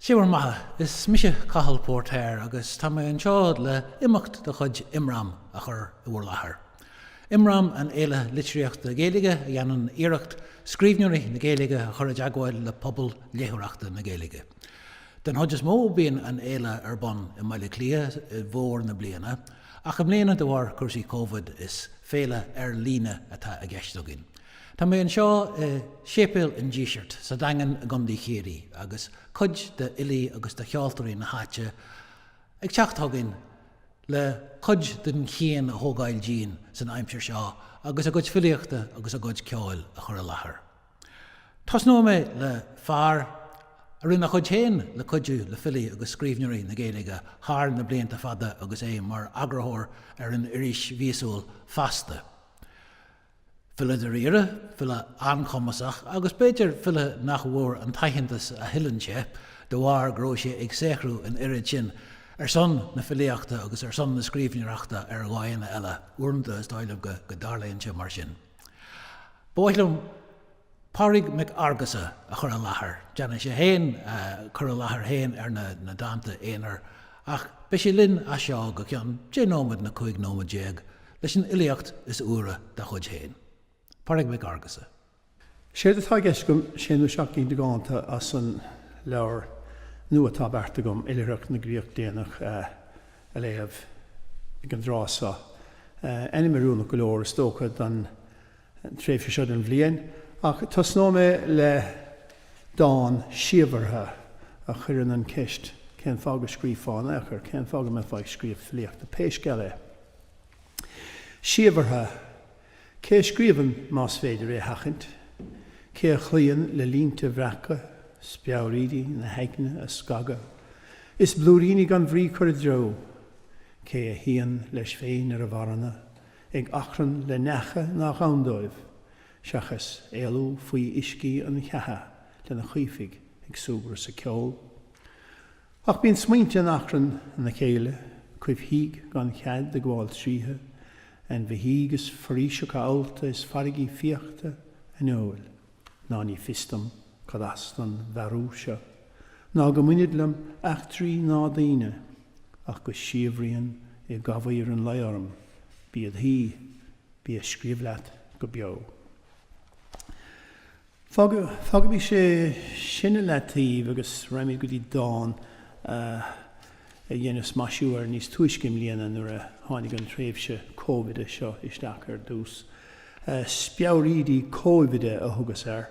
Sé bhur mbeatha. Is mise Cathal Póirtéir agus tá mé anseo le imeacht de chuid Imram a chur i bhur láthair. Imram an fhéile litríochta Gaeilge a dhéanann iarracht scríbhneoirí na Gaeilge a chur i dteagmháil le pobal léitheoireachta na Gaeilge. Den chuid is mó bíonn an fhéile ar bun i mBaile Átha Cliath i bhfómhar na bliana ach i mbliana de bharr cúrsaí Covid is féile ar líne atá i gceist againn. Tá mé anseo i séipéal an Dísirt sa Daingean i gContae Chiarraí agus cuid de fhilí agus de cheoltóirí na háite ag teacht chugainn le cuid den chian a thógáil dínn san aimsir seo agus a gcuid filíochta agus a gcuid ceoil a chur i láthair. Tosnóidh mé le fear a rinne a chuid féin le cuidiú le filí agus scríbhneoirí na Gaeilge thar na blianta fada agus é mar eagarthóir ar an iris mhíosúil Feasta. File dáiríre, file an-chumasach agus b'fhéidir file nach bhfuair an t-aitheantas a thuilleann sé de bharr go raibh sé ag saothrú an oiread sin ar son na filíochta agus ar son na scríbhneoireachta ar dhóigheanna eile, uaireanta is dóigh liom go dtarlaíonn sé mar sin. Ba mhaith liom. Pádraig Mac Fhearghusa a chur i láthair. Déanfaidh sé féin cur i láthair féin ar na dánta aonair ach beidh sé linn as seo go ceann deich nóiméad nó cúig nóiméad déag leis an fhilíocht is úire dá chuid féin. Pádraig Mac Fhearghusa. Séard atá i gceist agam, sé nó seacht gcinn de dhánta as an leabhar nua atá beartaithe agam, Oilithreacht na gCríoch Déanach, a léamh ag an dtráth seo. Ainm oiriúnach go leor, is dócha, don. tréimhse seo den bhliain, ach tosnóidh mé le dán síobhartha a chuireann an cheist cén fáth go scríofá in ao'chor, cén fáth go mbeifeá ag scríobh filíochta pé scéal é. Síobhartha, cé a scríobhann más féidir é a sheachaint? Cé a chloíonn le línte a bhreacadh, speabhraídí na haigne a scagadh, is blúiríní gan bhrí a chur i dtreo? Cé a shuíonn leis féin ar a mharana, ag achrann le neacha nach ann dóibh, seachas éalú faoi uiscí an cheatha lena chaomhthaigh ag súgradh is ag ceol. Ach bíonn smaointe in achrann ina chéile, coimhthígh gan chead ag gabháil tríothu, ainmhithe agus foraoiseacha allta is farraigí fíochta aineoil. ná ní fios dom cad as don mhearú seo, ná go mbainid liom eachtraí ná daoine, ach go síobhraíonn i gcamhaoir an lae orm, bí id shuí, bí ag scríobh leat go beo. Fágaimis é sin i leataobh agus raghaimid go dtí dán a. a dheineas maisiú air níos túisce i mbliana nuair a tháinig an tréimhse Cóibhide seo isteach ar dtús. 'Speabhraídí Cóibhide' a thugas air,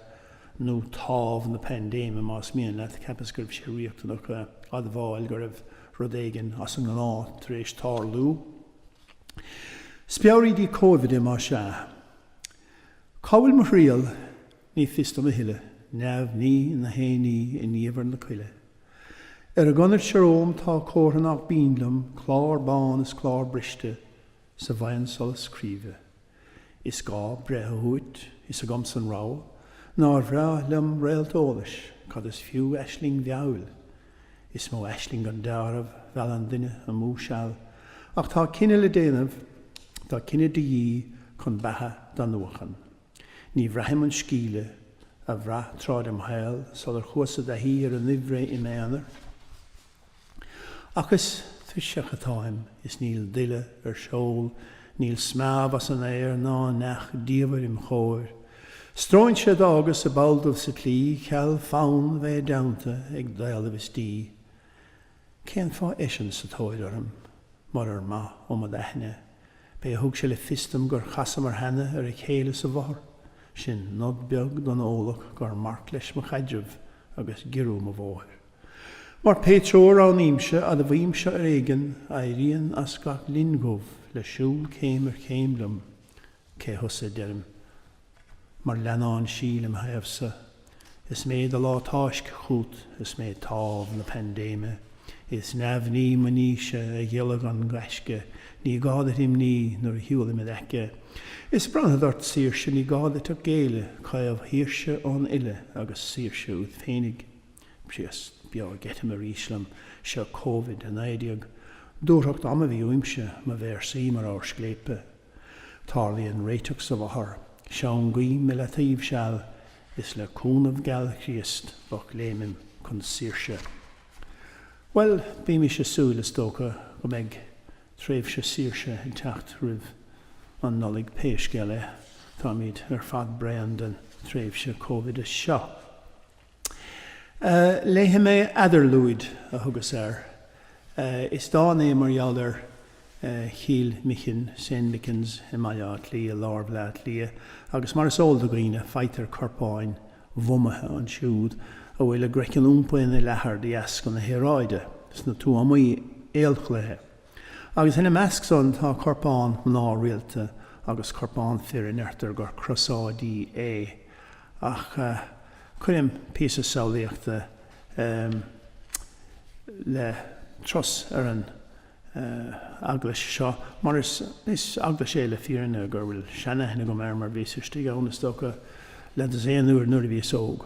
nó 'Támh na Paindéime' más mian leat, cheapas go raibh sé riachtanach a admháil go raibh rud éigin as an ngnáth tar éis tarlú. Speabhraídí Cóibhide má sea. Cá bhfuil mo thriall? Ní fios dom a thuilleadh. Neamhní nach éinní i ndiamhair na coille. Ar an gconair seo romham tá comhartha nách binn liom, clár bán is clár briste 's a bhfaigheann solas scríbe. Is gá breith a thabhait, is agamsa an rogha, nár bhreá liom réalt eolais, cad is fiú aisling mheabhail? Is mó aisling gan deáramh mheallann duine amú seal, ach tá cinneadh le déanamh, tá cinneadh de dhíth chun beatha d'athnuachan. Ní bhraithim an sceimhle a bhraith tráth dem shaol sular chuas i dtaithí ar an aimhréidh i m'aonar. Ach is tuirseach atáim is níl duille ar seol, níl smeámh as an aer ná neach diamhair im chomhair. Stróinse a d'fhágas ag ball dubh sa tslí, cheal fonn a bheith i dteannta ag daol a bheas dí. Cén fáth eisean sa tóir orm? Murar maith ó m'aithne, b'é a thug sé le fios dom gur chasamar cheana ar a chéile sa mhothar. Sin nod beag don eolach gur marc leis mo chaidreamh agus giorrú mo bhóthair. Mar pé treo a roghnaímse, admhaím seo ar éigean, éiríonn as gach linn dhubh le siúl céim ar chéim liom. Cé thusa, a deirim. Mar leannán sí lem thaobhsa. Is mé do lá táisc' chút, is mé támh na paindéime. Is neamhní mo níse, a ghiolla gan gaisce, ní gá duit imní nuair a shiúlaim id aice. Is bronnfad ort saoirse, ní gá duit ach géilleadh, caomhshaoirse ón uile agus saoirse uait féinig. B'shios beo ag eitilt arís liom, seo Covid-19. Dúthracht ama a bhí uaimse, mo véarsaí mar abhar scléipe. Tarlaíonn réiteach sa mhothar, seangaím i leataoibh seal, is le cúnamh geal Chríost bocléimim chun saoirse. Bhuel, bímis a' súil, is dócha go mbeidh tréimhse saoirse ag teacht roimh an Nollaig pé scéal é, táimid ar fad bréan den tréimhse Cóibhide seo. Léifidh mé Eadarlúid, a thugas air. Is dán é mar gheall ar Chill Michin, Saint Michan's, i mBaile Átha Cliath, i lár Bhaile Átha Cliath, agus mar is eol do dhaoine, faightear corpáin mhumaithe ansiúd, a bhfuil a gcroiceann iompaithe ina leathar de dheasca na haeráide, sna tuamaí aolchloiche. Agus ina measc san tá corpán mná rialta agus corpán fir a ndeirtear gur crosáidí é. Ach cuirim píosa samhlaíochta le turas ar an eaglais seo, mar is eaglais é le fírinne go bhfuil seanaithne agam air mar bhíos istigh ann, is dócha, leathdhosaen uair nuair a bhíos óg.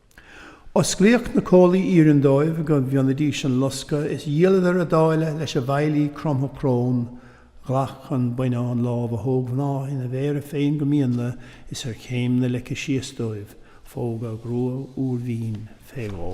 Osclaíodh na comhlaí iarainn dóibh go bhfionnfaidís an lusca is dhíoladar a dtáille leis an bhfeighlí cromtha crón. Ghlac an buinneán lámh na hógmhná ina mhéara féin go míonla is ar chéim na leice síos dóibh, phóg a grua úr mhín fé dhó.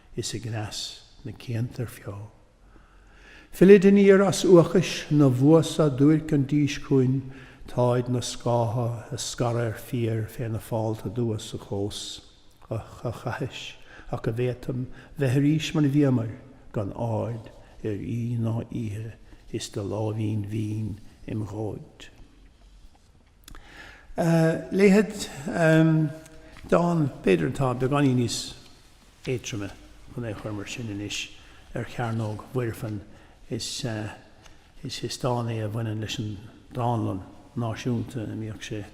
is a gcneas na cianta ar feo. Fillid aniar as uachais na bhfuasá duairc an dís chugainn táid na scátha á scaradh ar fiar fé na fálta dubha sa chlós. Uch a chaithis, ach a bhféadfam bheith arís mar bhíomair, gan aird ar aoi ná oíche is do láimhín mhín im dhóid. léifead dán, b'fhéidir, atá beagáinín níos éadtroime chun é chur mar sin anois ar Chearnóg Mhuirfean. Is dán é a bhaineann leis an Dánlann Náisiúnta a mbíodh sé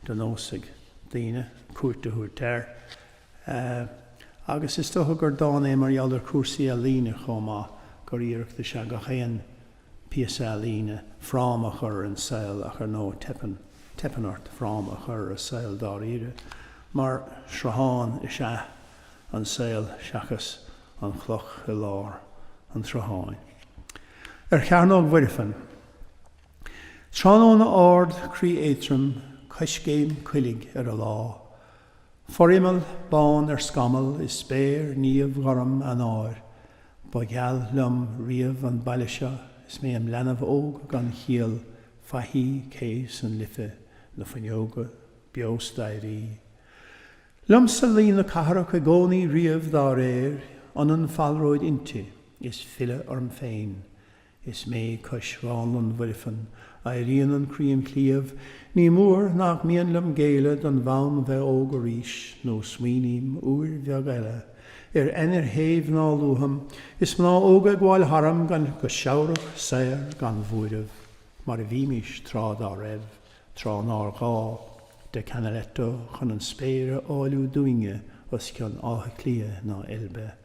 de nós ag daoine cuairt a thabhairt air. Agus is dócha gur dán é mar gheall ar chúrsaí ealaíne chomh maith, gur iarracht is ea gach aon. píosa ealaíne, fráma a chur ar an saol ach ar ndóigh teipeann, teipeann ort fráma a chur ar an saol dáiríre mar sruthán is ea an saol seachas an chloch i lár an tsrutháin. Ar Chearnóg Mhuirfean. Tráthnóna ard, croí éadtrom, coiscéim coiligh ar an lá. Forimeall bán ar scamall i spéir niamhghorm Eanáir. Ba gheal liom riamh an baile seo is mé im leanbh óg gan chiall, Faichí, cé is an Life, na fuinneoga, beo staighrí. Liomsa luí na cathrach i gcónaí riamh dá réir, ionann falróid inti is filleadh orm féin. Is mé cois Dhánlann Mhuirfean, éiríonn an croí im chliabh, Ní mór nach mian liom géilleadh don bhfonn bheith óg arís, Nó smaoiním, uair bheag eile, ar ainnir shéimh ná luafam, Is mná óga ag gabháil tharam gan go seabhrach, saor gan bhuaireamh, Mar a bhímís tráth dá raibh, tráth nár ghá De Canaletto chun an spéir a áilliú dúinne, Os cionn Átha Cliath ná Eilbe.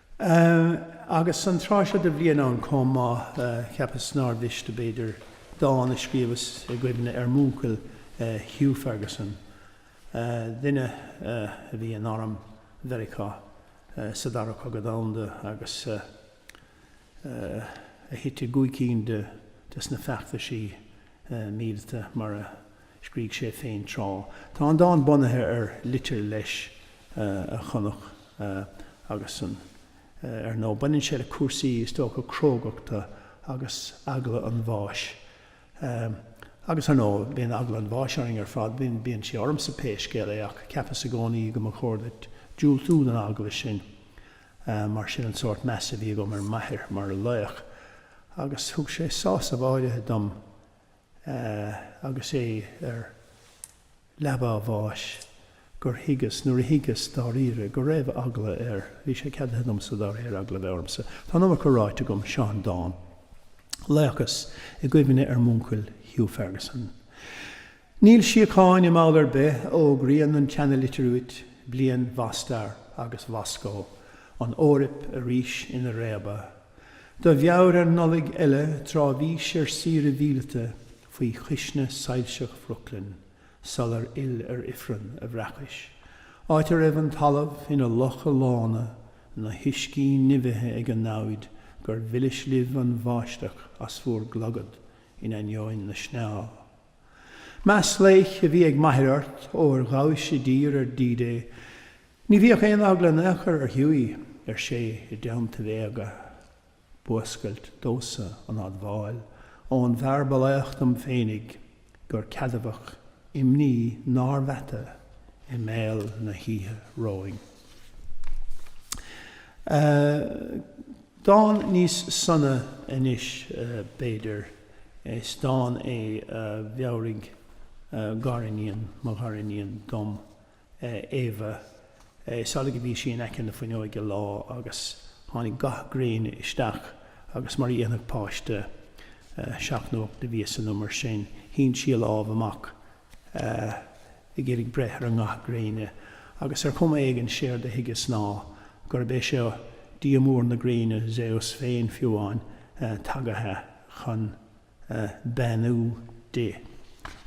Agus an tráth seo de bhliain ann chomh maith, cheapas nár mhiste, b'fhéidir, dán a scríobhas i gcuimhne ar m'uncail Hugh Ferguson, duine a bhí in arm Mheiriceá sa Dara Cogadh Domhanda agus a thit i gcúig cinn des na feachtaisí míleata, mar a. scrígh sé féin tráth. Tá an dán bunaithe ar litir leis a chonac agus san. Ar ndóigh, baineann sé le cúrsaí, is dócha, crógachta agus eagla an bháis. Agus, ar ndóigh, bíonn eagla an bháis orainn ar fad, bíonn sí ormsa pé scéal é, ach cheapas i gcónaí go mba chóir duit diúltú don eagla sin mar sin an sórt measa a bhí agam ar m'athair mar laoch. Agus thug sé sásamh áirithe dom. agus é ar leaba a bháis, gur thuigeas, nuair a thuigeas, dáiríre, go raibh eagla air. Bhí sé ceadaithe domsa, dá réir, eagla a bheith ormsa. Tá an iomarca ráite agam, seo an dán, laochas i gcuimhne ar m'uncail Hugh Ferguson. Níl síocháin i mball ar bith, fhógraíonn an tseanalitir uait, bliain Mhostar agus Mhoscó, an Eoraip arís ina réabadh. Do mheabhair ar Nollaig eile tráth bhís ar saoire mhíleata faoi chuisne soilseach Bhrooklyn sular fhill ar ifreann a bhreacais, áit a raibh an talamh ina locha lána, na huiscí nimhithe ag an namhaid gur mhilis libh an bháisteach as bhur gclogad in ainneoin na sneá. Meas laoich a bhí ag m'athair ort, óir ghabhais i dtír ar D-Day, ní bhíodh aon eagla in aon chor ar Hughie, ar sé i dteannta bhéaga. B'fhuascailt domhsa an admháil ón bhfear ba laoch dom féinig gur ceadmhach imní nár mheata i mbéal na hoíche romhainn. Dán níos sona anois, b'fhéidir. Is dán é a mheabhraigh gariníon mo ghariníon dom, Éabha. Is amhlaidh a bhí sí in aice na fuinneoige lá agus tháinig gath gréine isteach agus mar a dhéanfadh páiste seacht nó ocht de mhíosa nó mar sin, shín sí a lámh amach ag iarraidh breith ar an ngath gréine, agus ar chuma éigin séard a thuigeas ná gurb é seo dia mór na gréine, Zeus féin fiú amháin, tagaithe chun beannú di,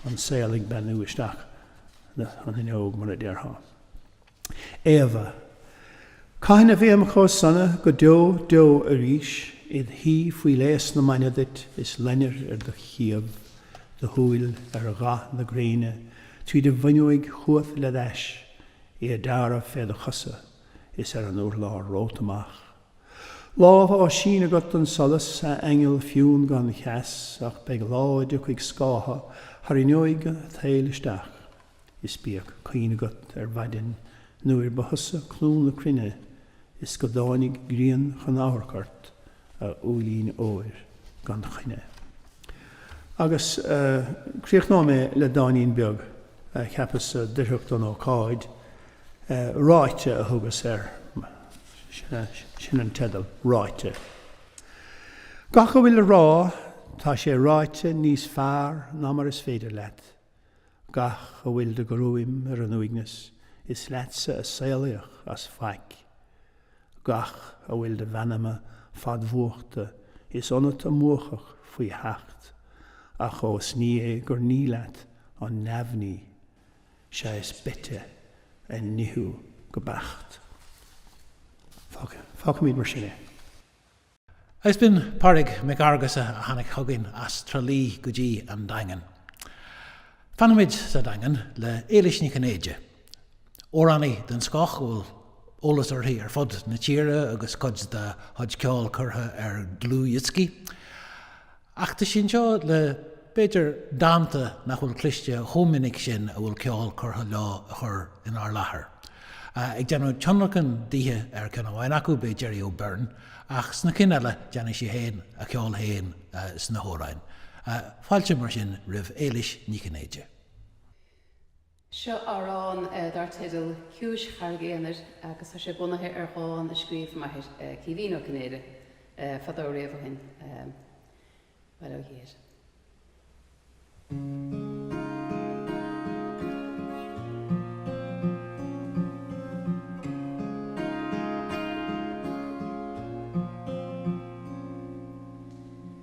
an saol ag beannú isteach an fhuinneog, mar a déarfá. Éabha. Cathain a bheam chomh sona go deo deo arís id shuí faoi léas na maidne duit is loinnir ar do chiabh, do shúil ar gha na gréine tríd an bhfuinneoig chugat le d'ais í ag dearadh fé do chosa is ar an urlár romhat amach. Lámh á síneadh agat don solas, a aingeal fionn gan cheas, ach beidh lá a dtiocfaidh scátha thar fhuinneoig a' tsaoil isteach. Is bíodh cuimhne agat ar mhaidin nuair ba thusa clú na cruinne is go dtáinig grian chun amharc ort, a úillín óir gan choinne. Agus críochnóidh mé le dáinín beag a cheapas-sa d'oirfeadh don ócáid, 'Ráite' a thugas air. Sin an teideal, 'Ráite'. Gach a bhfuil le rá, tá sé ráite níos fearr ná mar is féidir leat Gach a bhfuil de ghruaim ar an uaigneas, is leatsa a saolaíodh as faic. Gach a bhfuil de mheanma fadmhúchta, is ionat a múchadh faoi sheacht, ach ós ní é gur ní leat an neamhní, sé is beite a nithiú go beacht. Fágfaimid mar sin é. Is b'in Pádraig Mac Fhearghusa a tháinig chugainn as Trá Lí go dtí an Daingean. Fanfaimid sa Daingean le Éilís Ní Chinnéide, amhránaí den scoth a bhfuil eolas uirthi ar fud na tíre agus cuid dá chuid ceoil curtha ar dhlúthdhioscaí. Ach tá sí anseo le, b'fhéidir, dánta nach bhfuil cloiste chomh minic sin a bhfuil ceol curtha leo a chur inár láthair. Ag déanamh tionlacain dithe ar cheann amháin acu beidh Gerry O'Beirne ach sna cinn eile déanfaidh sí féin a ceol féin sna hamhráin. Fáilte, mar sin, roimh Éilís Ní Chinnéide. Seo amhrán dar teideal 'Ciumhais Charraig Aonair' agus tá sé bunaithe ar dhán a scríobh m'athair, Caoimhín Ó Cinnéide, fadó riamh ó shin. Bail ó Dhia air.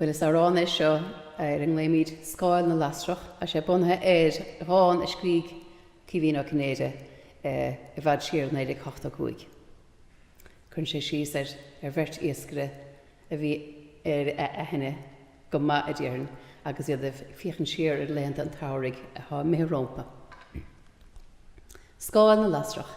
Bhuel, is amhrán é seo ar a nglaoimid Scáil na Lasrach. Tá sé bunaithe ar dhán a scrígh Caoimhín Ó Cinnéide i bhfad siar i 1985. Cuireann sé síos ar bheirt iascaire a bhí ar aithne go maith, a déarfainn, agus iad ag féachaint siar ar laethanta an tsamhraidh atá imithe rompu. Scáil na Lasrach.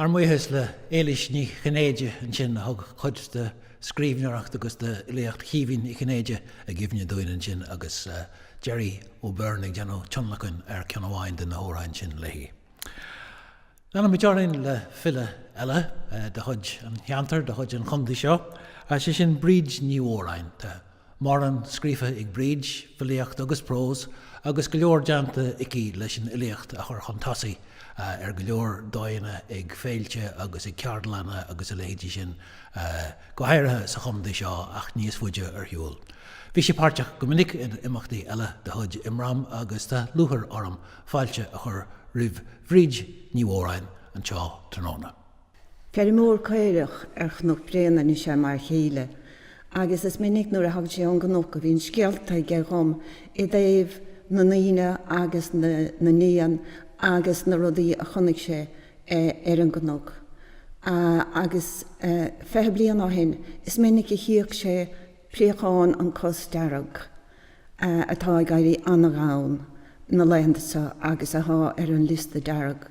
Ár mbuíochas le Éilís Ní Chinnéide ansin a thug cuid de scríbhneoireacht agus de fhilíocht Chaoimhín Uí Chinnéide i gcuimhne dúinn ansin agus Gerry O'Beirne ag déanamh tionlacain ar ceann amháin de na hamhráin sin léithi. Leanfaimid orainn le file eile de chuid an cheantair, de chuid an chontae seo, sé sin Bríd Ní Mhóráin. Mórán scríofa ag Bríd, filíocht agus prós, agus go leor déanta aici leis an fhilíocht a chur chun tosaigh ar go leor dóigheanna, ag féilte agus ag ceardlanna agus a leithéidí sin, go háirithe sa chontae seo ach níos faide ar shiúl. Bhí sí páirteach go minic in imeachtaí eile de chuid Imram agus tá lúchair orm fáilte a chur roimh Bhríd Ní Mhóráin anseo tráthnóna. Feirmeoir caorach ar Chnoc Bréanainn is ea m'fhear chéile agus is minic nuair a thagann sé ón gcnoc a bhíonn scéalta aige dhom i dtaobh na ndaoine agus na n-éan agus na rudaí a chonaic sé ar an gcnoc. Agus fiche bliain ó shin is minic a chíodh sé préachán an cos dearg, atá ag éirí an-ghann na laethanta seo agus atá ar an liosta dearg.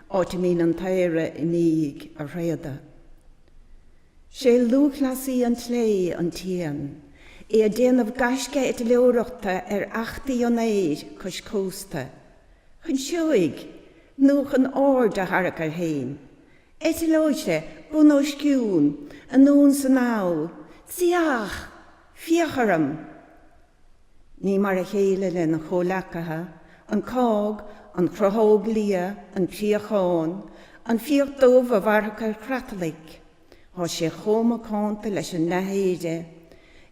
áit a mbíonn an t-aoire i ndiaidh a thréada. 'Sé lúthchleasaí an tsléibhe an t-éan, é ag déanamh gaisce eitleoireachta ar fheachtaí an aeir cois cósta, chun seoigh nó chun aird a tharrac air fhéin. Eitleoidh sé, bun os cionn, anonn 's anall, tiach! Féach orm! Ní mar a chéile lena chomhleacaithe, an cág, an chrothóg liath, an préachán, an fiach dubh a mhairfeadh ar chreatlaigh. Tá sé chomh macánta leis an leathéire.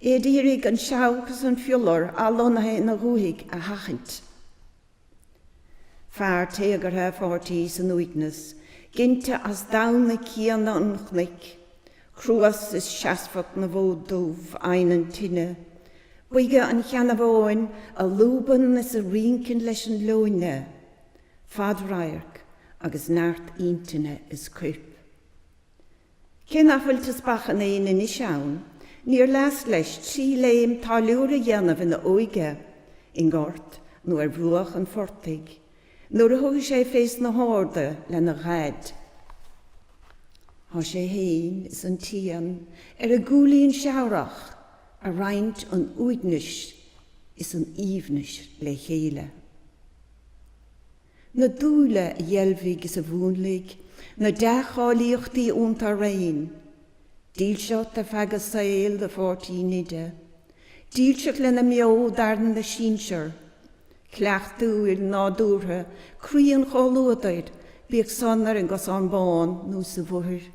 É ag iarraidh an seabhac is an fiolar athlonnaithe ina dhúthaigh a sheachaint. Fear téagartha a pháirtí san uaigneas, ginte as damhna céanna an chnoic, cruas is seasmhacht na bhfód dubh a adhnann tine, boige an cheannabháin a lúbann is a rinceann leis an leoithne, fad-radharc agus neart intinne is cuirp. Cé nach bhfuil teaspach an éin anois ann, níor leasc leis trí léim táilliúra a dhéanamh ina óige, i ngort nó ar bhruach an phortaigh, nuair a thugadh sé fés na harda lena dhaid. Tá sé fhéin is an t-éan ar a gcúilín seamhrach a' roinnt an uaignis is an aoibhnis le chéile. na dúile a dheilbhigh is a mhúnlaigh na dea-cháilíochtaí iontu araon, dílseacht ar feadh a saoil do Pháirtí Nide, dílseacht lena mbeo d'fhearann na sinsear, cleachtadh nádúrtha croí an chomhluadair, bíodh san ar an gcosán bán nó sa Bhóthar.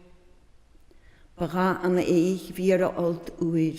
Ba dhath an fhéich bhí ar a fholt uair.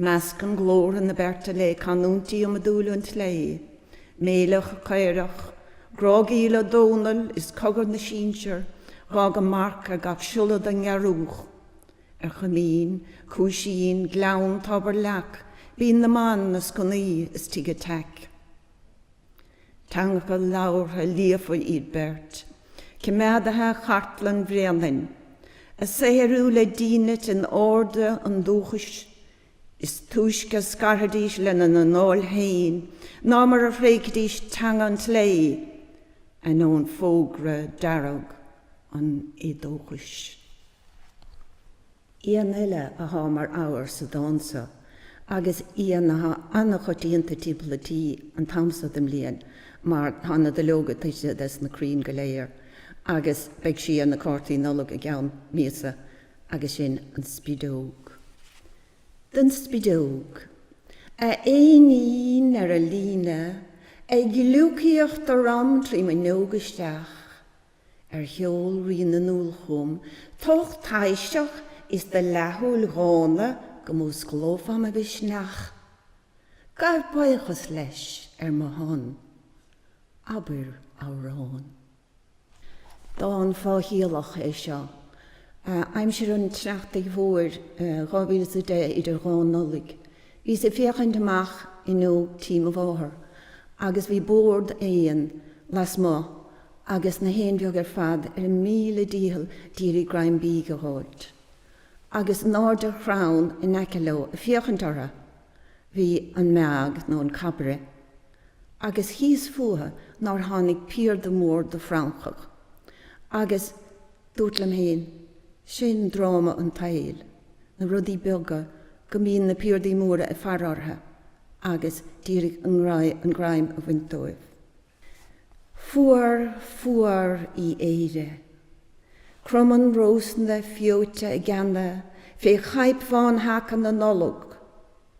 Meascann glórtha na beirte le canúintí iomadúla an tslé, méileach caorach, grágaíl an Dónaill is cogar na sinsear, a dh'fhág a marc ar gach siolla don ngearrúch. Ar choimín, cuaisín, gleann, tobar, leac, Binn na mBan, na sconnaí is tigh an teic. Teangacha labhartha líofa iad beirt. Coimeádaithe chartlann Bhréanainn, á saothrú le dínit in airde an dúchais, is túisce a scarfaidís lena n-anáil féin ná mar a thréigfidís teanga an tslé, ainneoin fógra dearg an éadóchais. Éan eile athá mar abhar sa dán so, agus éan athá an-choitianta timpeall an tí an t-am so den mbliain, mar thá na duilleoga tuitithe de sna crainn go léir, agus beidh sí ar na cártaí Nollag i gceann míosa, agus sin an spideog. Don spideog. A éinín ar an líne, ag gliúcaíocht orm trí m'fhuinneog isteach. Ar sheol rí na ndúl chugam t'ucht taibhseach is do leathshúil dhána go músclófá mo mhisneach? Gabh buíochas leis ar mo shon. Abair amhrán. Dán fáthchiallach é seo, Aimsir an tSneachtaidh Mhóir, 2010, Idir Dhá Nollaig. Bhíos ag féachaint amach fhuinneog tí mo mháthar agus bhí bord éan lasmuigh agus na héin bheaga ar fad ar a míle dícheall d'iarraidh greim bídh a dh'fháilt, agus in airde ar chrann in aice leo ag féachaint orthu bhí an meaig nó an cabaire, agus thíos fúthu nár tháinig piarda mór de fhrancach, agus dúirt liom féin, Sin dráma an tsaoil, na rudaí beaga, go mbíonn na piardaí móra ag faire orthu, agus d'iarraidh an greim a bhaint dóibh. Fuar, fuar í Éire. Cromann rósanna feoite a gceanna fé chaidhp bhán sheaca na Nollag,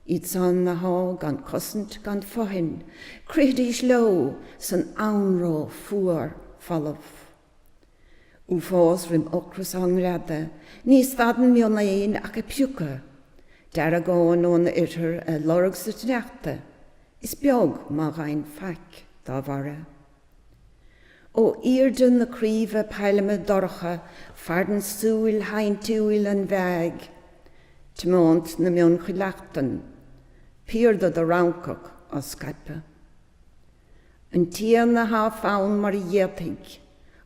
iadsan athá gan cosaint gan fothain, crithidís leo san anró fuar folamh. Uafás roim ocras á ngreadadh, ní stadann mionéin ach ag piocadh deargáin ón oirthear ag lorg sa tsneachta, is beag má gheibheann faic dá bharra. Ó airde na craoibhe pailme dorcha faireann súil shainntiúil an mheaig, tiomáint na mionchuileachtan, piarda do fhrancach á scaipeadh. an t-éan athá fann mar a d'fhéadfaidh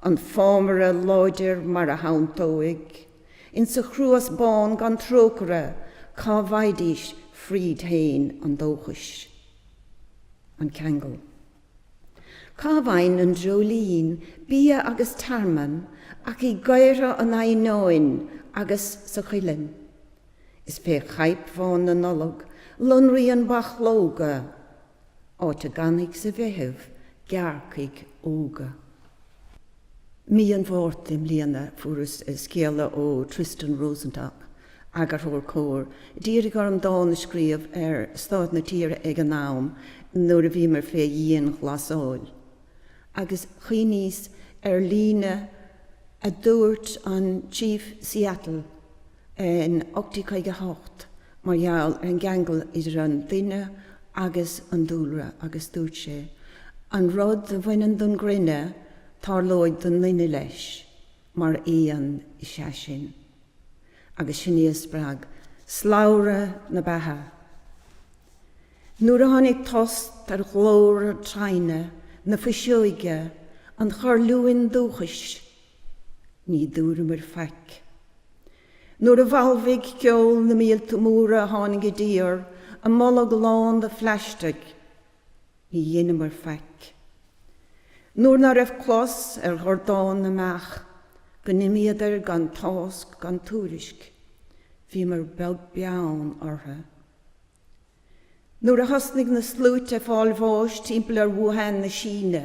an fámaire láidir mar a shanntóidh insa chruas bán gan trócaire cá bhfaighidís fríd fhéin an dóchais. An Ceangal. Cá bhfaghann an dreoilín bia agus tearmann ach i gcaora an eidhneáin agus sa chuileann. Is fé chaidhp bhán na Nollag lonraíonn bachlóga áit a gcanfaidh sa Mheitheamh gearrcaigh óga. Mí an Mhárta i mbliana fuaireas scéala ó Tristan Rosenstock, eagarthóir Comhar, d'iarraidh orm dán a scríobh ar stáid na tíre ag an am nuair a bhíomar fé dhianghlasáil. Agus chuimhníos ar líne a dúirt an Chief Seattle, in 1858 mar gheall ar an gceangal idir an duine agus an dúlra agus dúirt sé, 'An rud a bhaineann don gcruinne, tarlóidh don nduine leis, mar aon is ea sinn. Agus sin é a spreag Slabhra na Beatha. Nuair a tháinig tost ar ghlór traona, na fuiseoige, an chuirliúin dúchais, Ní dúramair faic. Nuair a bhalbhaigh ceol na míolta móra a tháinig i dtír a mbolg lán de phlaistic, ní dheineamair faic. Nuair ná raibh clos ar dhordán na mbeach go n-imíodar gan tásc gan tuairisc, bhíomair beag beann orthu. Nuair a thosnaigh na sluaite ag fáil bháis timpeall ar Wuhan na Síne,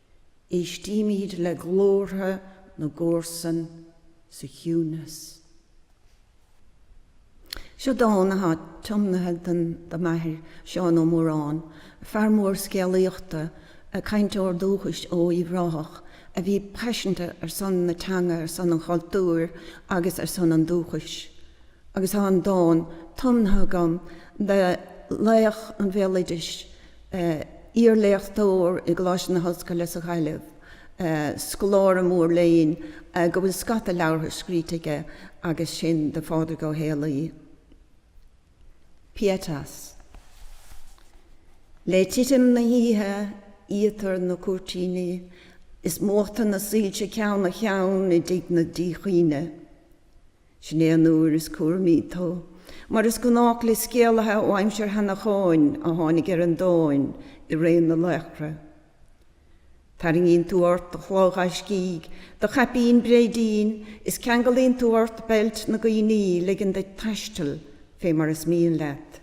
Éistímid le glórtha na gcomharsan sa chiúnas. Seo dán atá tiomnaithe den do m'athair, Seán Ó Móráin, fear mór scéalaíochta, cainteoir dúchais ó Uíbh Ráthach a bhí paiseanta ar son na teanga, ar son an chultúir agus ar son an dúchais. Agus tá an dán tiomnaithe agam do laoch an bhéaloidis, iarléachtóir i gColáiste na hOllscoile sa Ghaillimh, scoláire mór léinn go bhfuil scata leabhartha scríte aige agus sin do Phádraig Ó Héalaí, Pietas. Le titim na hoíche iatar na cúirtíní is múchtar na soilse ceann ar cheann i dtigh na díchuimhne. Sin é an uair is cúramaí tú, mar is gnách le scéalaithe ó aimsir Sheanacháin a tháinig ar an domhain i ré na laochra. Tarraingíonn tú ort do chulaith ghaiscígh, do chaipín bréidín, is ceangalaíonn tú ort beilt na gcuimhní, ligeann duit taisteal fé mar is mian leat.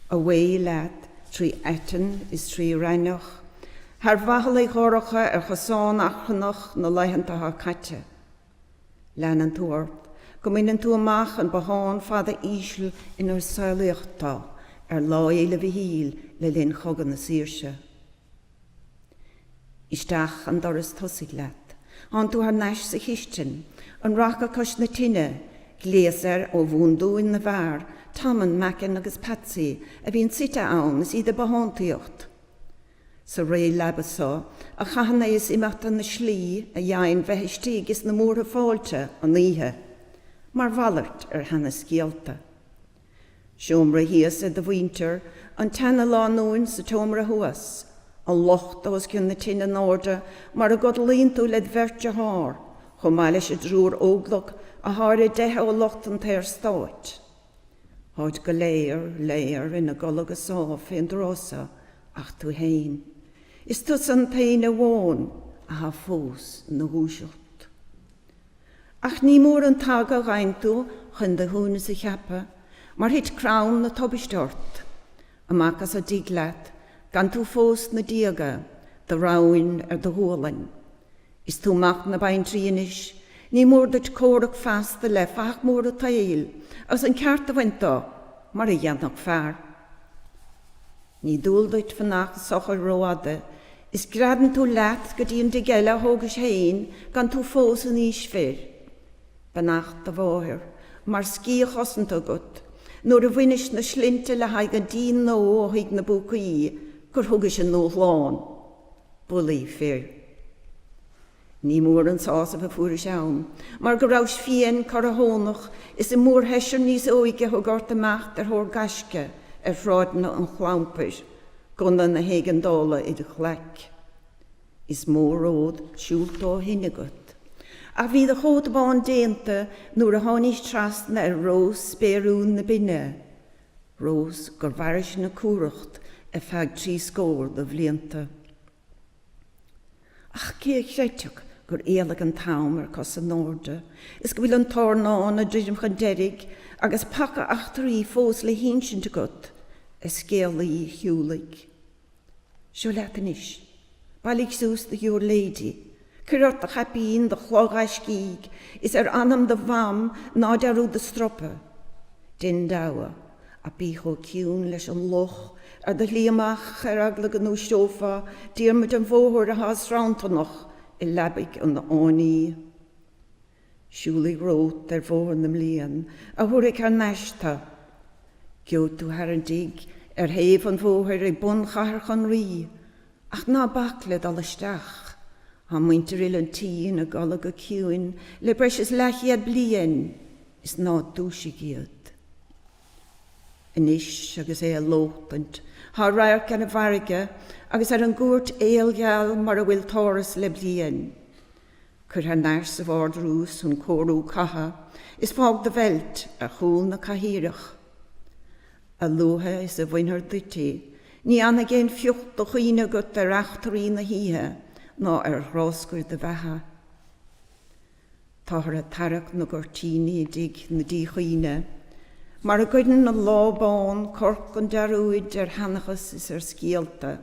Away leat trí aiteann is trí raithneach, thar bhathalaigh dhorcha ar chosán achrannach na laethanta atá caite. Leanann tú ort go mbaineann tú amach an bothán fada íseal inar saolaíodh tú ar Lá Fhéile Mhichíl le linn Chogadh na Saoirse. Isteach an doras tosaigh leat. Thánn tú thar n-ais sa chistin, an raca cois na tine, gléas air ó bhundúin na bhfear, Tom and Mackin agus Patsy a bhíonn suite ann is iad ag bothántaíocht. Sa réleaba so a chaitheann aos imeachta na slí a dh'fhaigheann bheith istigh is na múrtha fáilte an oíche, mar mhalairt ar sheanascéalta. Seomra thíos ag do mhuintir, an tseanalánúin sa tseomra thuas, an lochta os cionn na tine in airde mar a gcodlaíonn tú led bheirt dearthár, chomh maith leis an dtriúr óglach athá ar a dteitheadh ó lucht an tSaorstáit. Táid go léir, léir, ina gcodladh go sámh fén dtráth so ach tú fhéin. Is tusa an t-aon amháin athá fós ina dhúiseacht. Ach ní mór an t-aga a dh'fhaigheann tú chun do shuaimhneas a cheapadh, mar thit crann na tubaiste ort, amach as an dtigh leat, gan tú fós sna déaga, do rámhainn ar do ghualainn. Is tú mac na baintrí anois, ní mór duit comhrac feasta le fathach mór an tsaoil agus an ceart a bhaint de mar a dhéanfadh fear. Ní dual duit fanacht socair rófhada is greadann tú leat go dtí an dtigh eile a thógais féin gan tú fós in aois fir. Beannacht do mháthar mar sciath chosanta agat nuair a bhainis na slinnte le haghaidh an dín nua ó thigh na bpúcaí gur thugais a ndúshlán. Bulaí fir. Ní mór an sásamh a fuairis ann mar go rabhais fiain, corrathónach, is an mórsheisear níos óige a thug ort imeacht ar thóir gaisce ar shráideanna an chlampair, gunna na héigeandála id ghlaic. Is mó ród siúlta ó shin agat. Ach bhí do chóta bán déanta nuair a tháinís trasna ar rós spéiriúil na binne. Rós gur mhairis na cumhracht ar feadh trí scór do bhlianta. Ach cé a chreidfeadh gur éalaigh an t-am ar cos in airde is go bhfuil an t-airneán ag druidim chun deiridh agus paca eachtraí fós le hinsint agat, a scéalaí shiúlaigh? Seo leat anois. Bailigh suas do ghiúirléidí. Cuir ort do chaipín, do chló ghaiscígh, is ar anam do mham ná dearúd do stropa. Dein deabhadh, ach bí chomh ciúin leis an luch ar do shlí amach ar eagla go ndúiseofá Diarmuid an Bhóthair atá sranntarnach i leabaidh an fhánaí. Siúlaigh romhat ar bhóthar na mblian a thabharfaidh thar n-ais tu. Geobhaidh tú thar an dtigh ar thaobh an bhóthair ag bun Chathair Chon Raoi, ach ná bac le dul isteach. Tá muintir uile an tí ina gcodladh go ciúin le breis is leathchéad bliain is ná dúisigh iad. Anois agus é ag lóchtaint tá radharc ar an bhfarraige agus ar an gcúirt aolgheal mar a bhfuil t'áras le bliain, Cuir thar n-ais sa bhardrús an cóiriú catha is fág do bheilt ar chúl na cathaoireach. A luaithe is a bhainfear duit í, ní fhanfaidh aon phioc de chuimhne agat ar eachtraí na hoíche ná ar ghráscair do bheatha. Táthar ag tarrac na gcuirtíní i dtigh na díchuimhne, mar a gcuireann an lá bán corc an dearúid ar sheanchas is ar scéalta.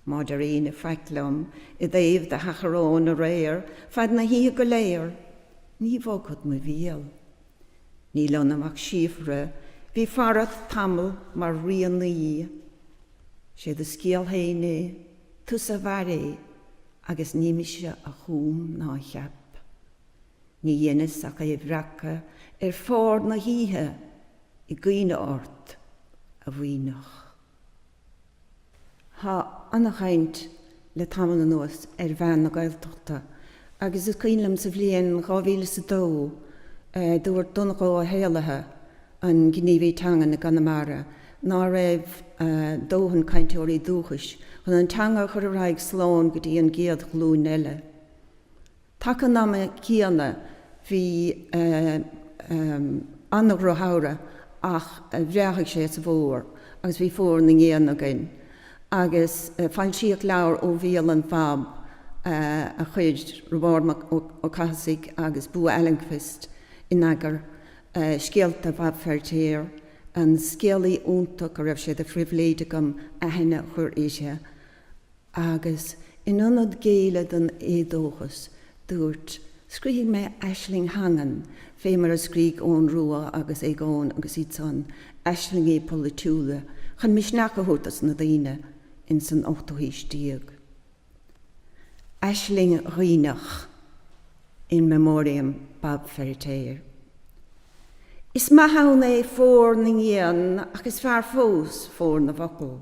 Má deir aoinne faic liom i dtaobh do sheachráin aréir fad na hoíche go léir, ní bhogfad mo bhéal. Níl ionam ach síofra bhí farat tamall mar rianaí. 'Sé do scéal fhéin é, tusa a mhair é, agus ní mise a chúm ná a cheap. Ní dheineas ach é a bhreacadh ar phár na hoíche i gcuimhne ort, a mhaoineach. Tá ana-chaint le tamall anuas ar mheath na Gaeltachta agus is cuimhin liom sa bhliain dhá mhíle is a dó dúirt Donncha Ó hÉallaithe, an gníomhaí teangan i gConamara, ná raibh dóthain cainteoirí dúchais chun an teanga a chur ar aghaidh slán go dtí an gcéad ghlúin eile. Taca an ama céanna bhí ana-dhrochshamhradh ach bhreáthaigh sé sa bhfómhar agus bhí fómhar na ngéanna againn. Agus foilsíodh leabhar Ó Bhéal an Bhab a chuir Roibeárd Mac Ó Cathasaigh agus Bo Almqvist in eagar, Scéalta Bhab Feiritéar, an scéalaí iontach a raibh sé de phribhléid agam aithne a chur uirthi. Agus in ionad géilleadh don éadóchas, dúirt, Scríobhfaidh mé aisling theangan fé mar a scrígh Eoin Rua agus Aogán agus iad san, aislingí polaitiúla chun misneach a thabhairt dos na daoine ins an ochtú haois déag. Aisling Dhuibhneach, In Memoriam, Bab Feiritéar. Is maith ann é Fómhar na nGéann ach is fearr fós Fómhar na bhFocal.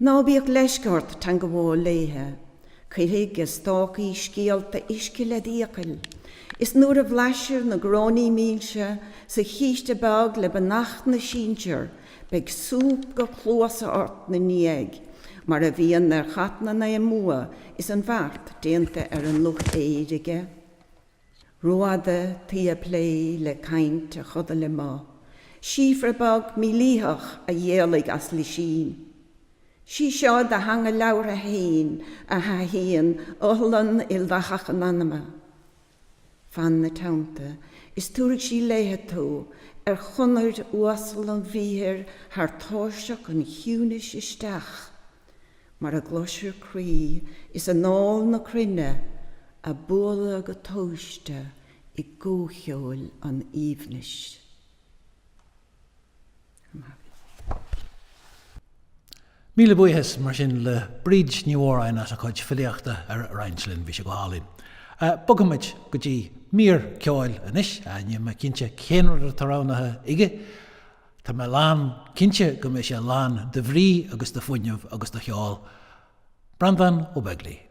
Ná bíodh leisce ort teangabháil léithe. Cuirfidh a stácaí scéalta uisce led fhiacail, is nuair a bhlaisfir na gráinní mílse sa chíste beag le beannacht na sinsear, beidh súp go cluasa ort 'na ndiaidh, mar a bhíonn ar chat na Naoi mBua is an bheart déanta ar an luch fhéir aige. Rófhada taoi a' plé le caint a chodail amuigh, síofra beag mílítheach a dh'éalaigh as lisín. Sí seo do theanga labhartha fhéin a thaithíonn iothlainn ildathach an anama. Fan 'na teannta is tabharfaidh sí léithe tú ar chonair uasal an bhriathair thar tairseach an chiúinis isteach. mar a gcloisfir croí is anáil na cruinne a' bualadh go tomhaiste i gcomhcheoil an aoibhnis. Míle buíochas, mar sin, le Bríd Ní Mhóráin as a cuid filíochta a roinnt linn. Bhí sé go hálainn. Bogfaimid go dtí mír ceoil anois. Níl mé cinnte cén rud atá roghnaithe aige. Tá mé lán cinnte go mbeidh sé lán de bhrí agus de fuinneamh agus de cheol. Breandán Ó Beaglaoich.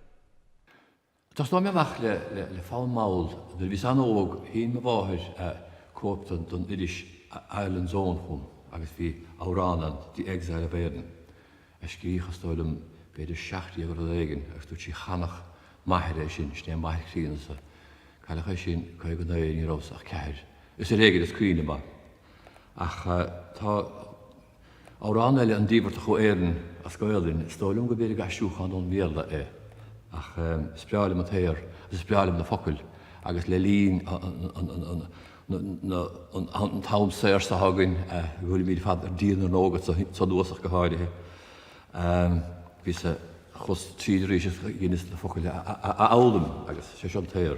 Tosnóidh mé amach le fonn mall. Nuair a bhíos an-óg, shín mo mháthair cóip den iris Ireland's Own chugam agus bhí amhrán ann, 'The Exile of Erin', a scríodh, is dóigh liom, b'fhéidir seacht déag rud éigin agus dúirt sí, Chanfadh m'athair é sin, sin é m'athair críonna-sa. Cailleadh é sin, caoga naoi, ní rabhas ach ceathair. Is ar éigin is cuimhin liom é. Ach tá amhrán eile, An Díbeartach ó Éirinn, as Gaoluinn. Is dóigh liom go mb'fhéidir gur aistriúchán ón Bhéarla é. Ach is breá liom an t-aer agus is breá liom na focail agus le linn an t-am saor seo againn a bhfuilimid ar fad ar díon ar ndóigh agus sa nuasach go háirithe, bhíos a, chuas tríd arís agus dheineas na focail a fhoghlaim agus sé seo an t-aer.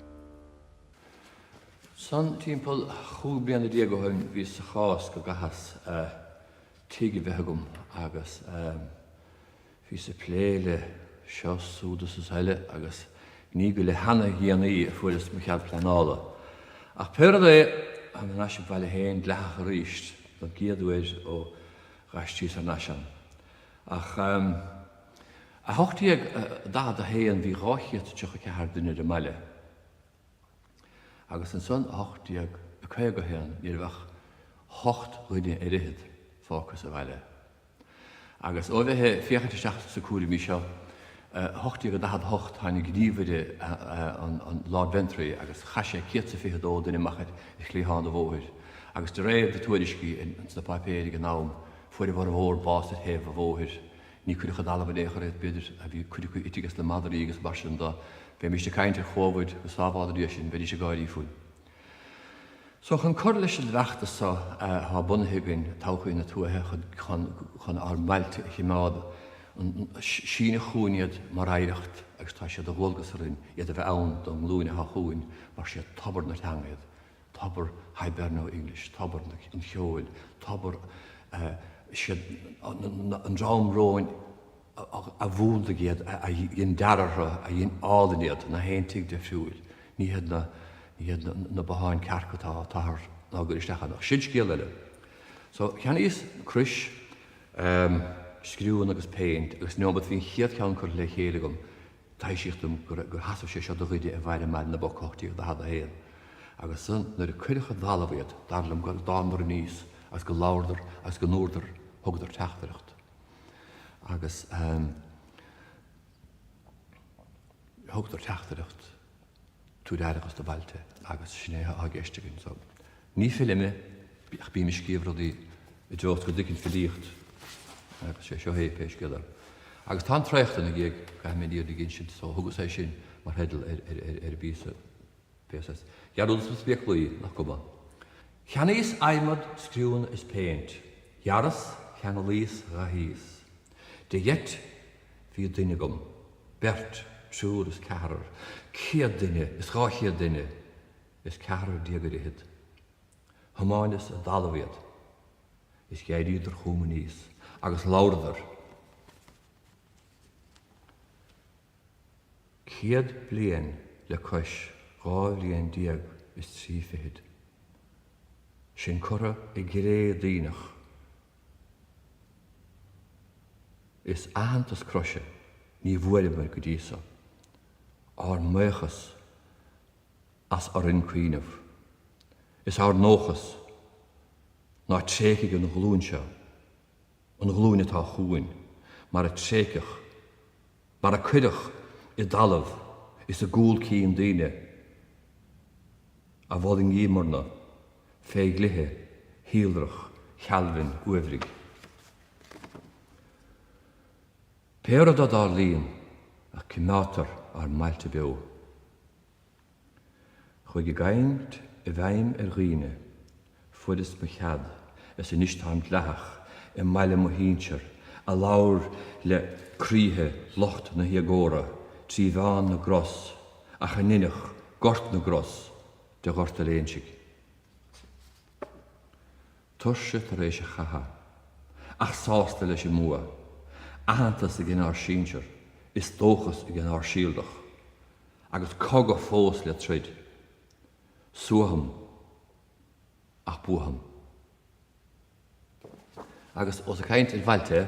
San timpeall chúig bliana déag ó shoin bhíos sa chás go gcaitheas tigh a bheith agam agus bhíos ag plé le seo 's súd 's eile agus ní go le hana dhéanaí a fuaireas mo chead pleanála. Ach pé rud é, táim thar n-ais im bhaile féin dleathach arís, don gcéad uair ó dh'aistríos thar n-ais ann. Ach. I 1841 bhí 234 duine ar an mbaile agus ansan i 1851 ní raibh ach hocht dhuine ar fhichead fágtha sa bhaile. Agus ó bheith ag féachaint isteach sna cúraimí seo i 1848 tháinig gníomhaire an Lord Ventry agus chaith sé céad is a fiche dó duine amach ar chliathán an bhóthair agus de réir na tuairiscí sna páipéir ag an am fuair a bhformhór bás ar thaobh an bhóthair. Ní cuireadh i dtalamh in aon chor iad, b'fhéidir a bhí cuid acu ite ages na madraí agus mar sin dá mbeimís ag caint ar Chovid go sábhála Dia sinn bheidís ag gáirí fúinn. So chun cur leis an bhfeachtas so atá bunaithe againn, Todhchaí na Tuaithe, chun ár mbailte a chimeád, síneadh chugainn iad mar oidhreacht agus tá sé de dhualgas orainn iad a bheith ann don nglúin atá chugainn mar siad tobar na teanga iad. tobar Hiberno English, tobar an cheoil, tobar siad an dream romhainn a mhúnlaigh iad, a dhein dearadh orthu, a dhein álainn iad, nach aon tigh difriúil, ní hiad, ní hiad na botháin cearca atá táthar inár gcur isteach ann, ach sin scéal eile. So, cheannaíos crois, scriúnna agus péint agus neomat bhí an chéad cheann curtha le chéile agam, Taibhsíodh dom gur sheasaimh sé seo do dhuine a mhair i mBaile na bPoc 1841 agus ansan nuair a cuireadh i dtalamh iad, dar liom go dtánadar aníos agus go labhradar agus go ndúradar, thugadar teachtaireacht agus thugadar teachtaireacht. tabhair aireachas do bhailte agus sin é atá i gceist againn so ní file mé ach bím ag scríobh rudaí i dtreo is go dtuigeann filíocht agus sé seo é pé scéal é agus tá an traocht ina gig caithfidh mé iad ag insint so thugas é sin mar theideal ar ar ar an bpíosa píosa dhearúdas mo spéaclaí nach cuma cheannaíos adhmad scriúnna is péint ghearras cheanglaíos dhathaíos de gheit Bhí duine agam, beirt, triúr is ceathrar, céad duine is dhá chéad duine is ceathrar déag ar fhichead. Thiomáineas i dtalamh iad. Is d'éiríodar chugam aníos agus labhradar. Céad bliain le cois dhá bhliain déag is trí fichid. Sinn curtha i gcré daoineach Is aitheantas croise ní bhfuaireamar go dtí so. Ár mbuíochas as orainn cuimhneamh. Is ár ndóchas ná tréigfidh an ghlúin seo an ghlúin atá chugainn mar a tréigeadh mar a cuireadh i dtalamh is i gcúl cinn daoine a mhol i ndiaidh murna fé dhlithe shíolrach Chailbhin uaibhrigh. Pé rud a dtarlaíonn a coimeádtar ár mbailte beo. chuaigh a gcaint i bhfeidhm ar dhaoine. Fuaireas mo chead, is anois táim dleathach, i mbaile mo shínsear, a labhair le croíthe lucht na héagóra trí mheán na gcros, ach a ndeineadh gort na gcros de Ghort an Léinsigh. Tuirse tar éis an chatha, ach sásta leis an mbua. Aitheantas ag ár sinsear, is dóchas ag ár síolrach. Agus cogadh fós le troid. Suaithfeam ach buafam. Agus ós ag caint ar bhailte.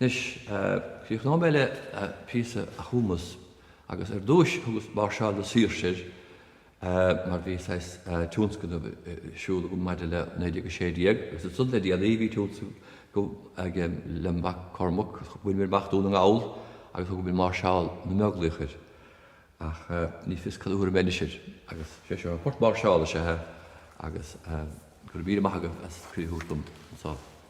Anois, críochnóidh mé le píosa a chumas agus ar dtúis thugas Máirseáil na Saoirse air mar bhí saghas tionscnamh ar siúl agam maidir le 1916 agus ansan le déanaí bhí tionscnamh agam lem' mhac Cormac, bhaineamar amach Dún na nGall agus thug muid Máirseáil na mBeaglaoich air ach ní fios cad a thabharfaidh mé anois air agus sé seo an port máirseála is ea é agus go raibh míle maith agat as cuireadh a thabhairt dom anso.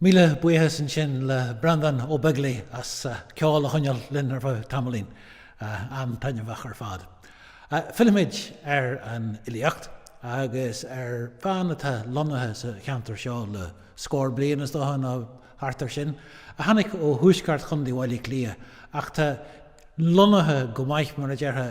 Míle buíochas ansin le Breandán Ó Beaglaoich as ceol a choinneáil linn ar feadh tamaillín. An-taitneamhach ar fad. Fillfimid ar an fhilíocht agus ar bhean atá lonnaithe sa cheantar seo le scór bliain, is dócha, nó thart air sin, a tháinig ó thuaisceart Chontae Bhaile Átha Cliath ach tá lonnaithe go maith, mar a déarfá,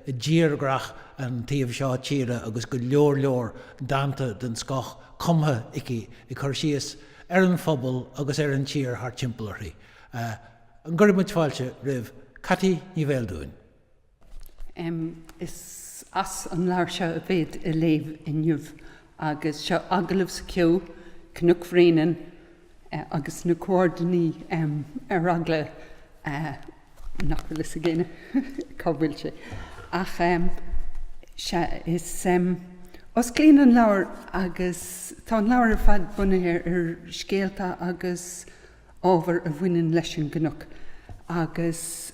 i dtírdhreach an taobh seo tíre agus go leor leor dánta den scoth cumtha aici ag cur síos ar an phobal agus ar an tír thart timpeall uirthi. An gcuirfidh muid fáilte roimh Ceaití Ní Bheildiúin? Is as an leabhar seo a bhead ag léamh inniu. Agus seo Agallamh sa Cheo, Cnoc Bhréanainn agus na comhordanáidí ar eagla nach bhfuil a fhios ag éinne cá bhfuil sé ach sea, is osclaíonn an leabhar agus tá an leabhar ar fad bunaithe ar scéalta agus ábhar a bhaineann leis an gcnoc agus.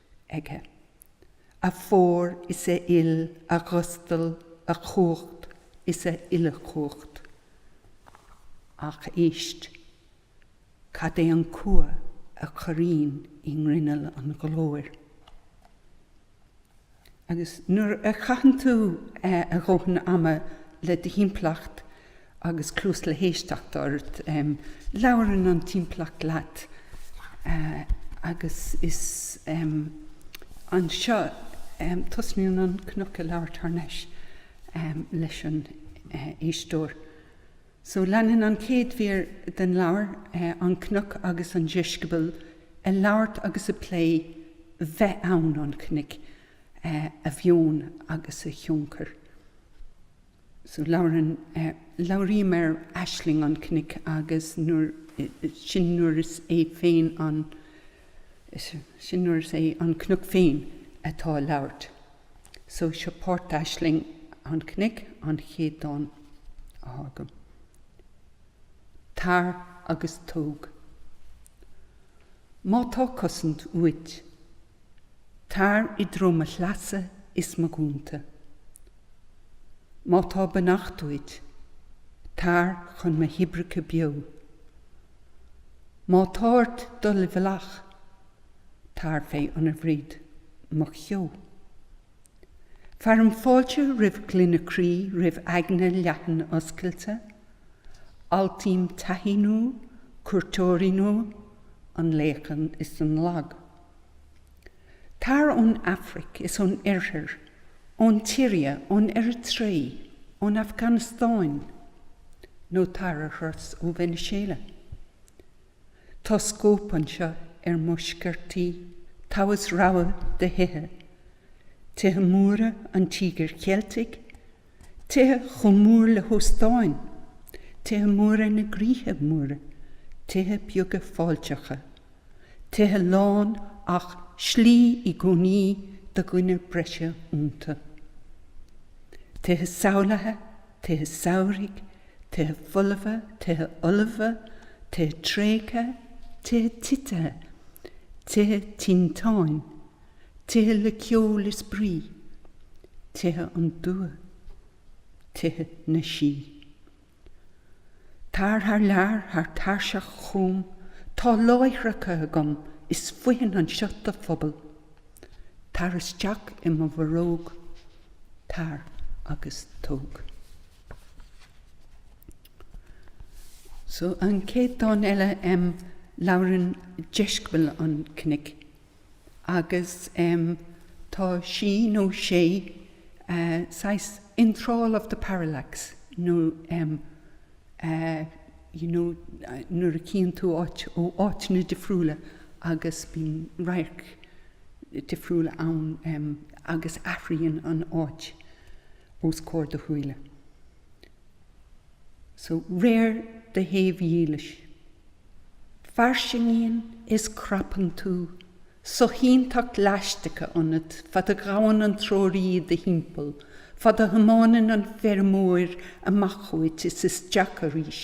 aige. A phór is a fhuil, a ghustal, a chumhacht is a uilechumhacht. Ach éist. Cad é an cumha a chorraíonn i ngrinneall an ghlóir? Agus nuair a chaitheann tú a dhóthain ama le do thimpeallacht, Agus cluas le héisteacht ort, labhrann an timpeallacht leat agus is anseo tosnaíonn an cnoc ag labhairt thar nais leis an éisteoir. So leanann an chéad mhír den leabhar an cnoc agus an deisceabal ag labhairt agus ag plé bheith ann an chnoic, a mheon agus a thionchar. so labhrann, labhraím ar aisling an chnoic agus nuair, sin nuair is é féin an, sin nuair is é an cnoc féin atá ag labhairt. So seo páirt d'aisling an chnoic, an chéad dán atá agam. Tar agus tóg. Má tá cosaint uait. Tar i dtreo mo shleasa is mo dhúnta. Má tá beannacht uait, tar chun mo thoibreacha beo. Má tá ort dul i bhfolach, tar fé ionarbhréid mo cheo. Fearaim fáilte roimh ghlaine croí, roimh aigne leathan oscailte. Altaím taithí nua, cuairteoirí nua, an laoch is an lag. Tar ón Afraic is ón Oirthear, ón tSiria, ón Eiritré, ón Afganastáin, nó tar ar thuras ó Veiniséala. Tá scóip anseo ar mo sciortaí, togha is rogha de thithe, tithe móra an Tíogair Cheiltigh, Tithe chomh mór le hóstáin, tithe móra na gcroíthe móra, tithe beaga fáilteacha, tithe lán ach slí i gcónaí do dhuine breise iontu. Tithe samhlaithe, tithe samhraidh, tithe folmha, tithe ullmha, tithe tréigthe, tithe titithe, tithe tinteáin. Tithe le ceol is spraoi. Tithe an dua. Tithe na sí. Tar thar lear, thar tairseach chugam, tá láithreacha agam is foithin anseo do phobal. Tar isteach i mo bharróg. Tar agus tóg. So an chéad dán eile, labhrann deisceabal an chnoic. Agus tá sí, nó sé, saghas in thrall of the parallax, nó you know nuair a chíonn tú áit ó áiteanna difriúla agus bíonn radhairc difriúla ann agus athraíonn an áit os comhair do shúile. So réir do shaobhdhiallais, fairsingíonn is crapann tú soshínteacht leaisteacha ionat fad a ghabhann an treoraí do thimpeall, fad a thiomáineann an feirmeoir amach uait is isteach arís.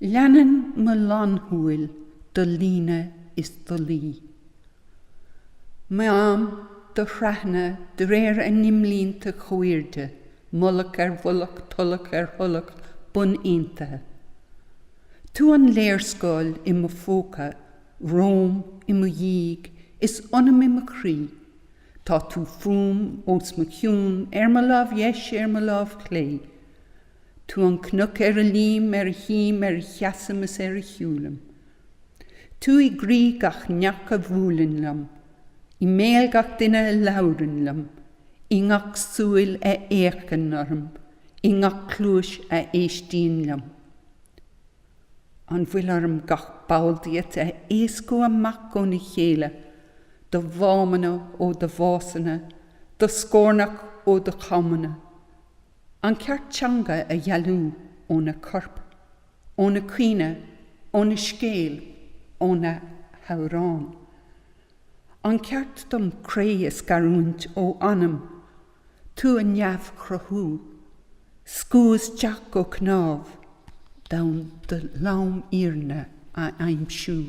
Leanann mo lánshúil do líne is do luí. Meáim do threathna de réir a n-imlínte comhairde, mullach ar mhullach, tulach ar thulach bun-aontaithe. Tú an léarscáil i mo phóca, romham, i mo dhiaidh, is ionam i mo chroí. Tá tú fúm, os mo chionn, ar mo lámh dheis, ar mo lámh chlé. Tú an cnoc ar a luím, ar a shuím, ar a sheasaim is ar a shiúlaim. Tú i gcroí gach neach a bhuaileann liom, i mbéal gach duine a labhrann liom, i ngach súil a fhéachann orm, i ngach cluais a éistíonn liom. An bhfuil orm gach ball díot a éascú amach óna chéile, do mhámanna ó do mhásanna, do scornach ó do chomanna? An ceart teanga a dhealú óna corp, óna cuimhne, óna scéal, óna hamhrán. An ceart dom cré a scarúint ó anam, tú a neamhchruthú, scamhadh isteach go cnámh, d'fhonn do lomfhírinne a aimsiú.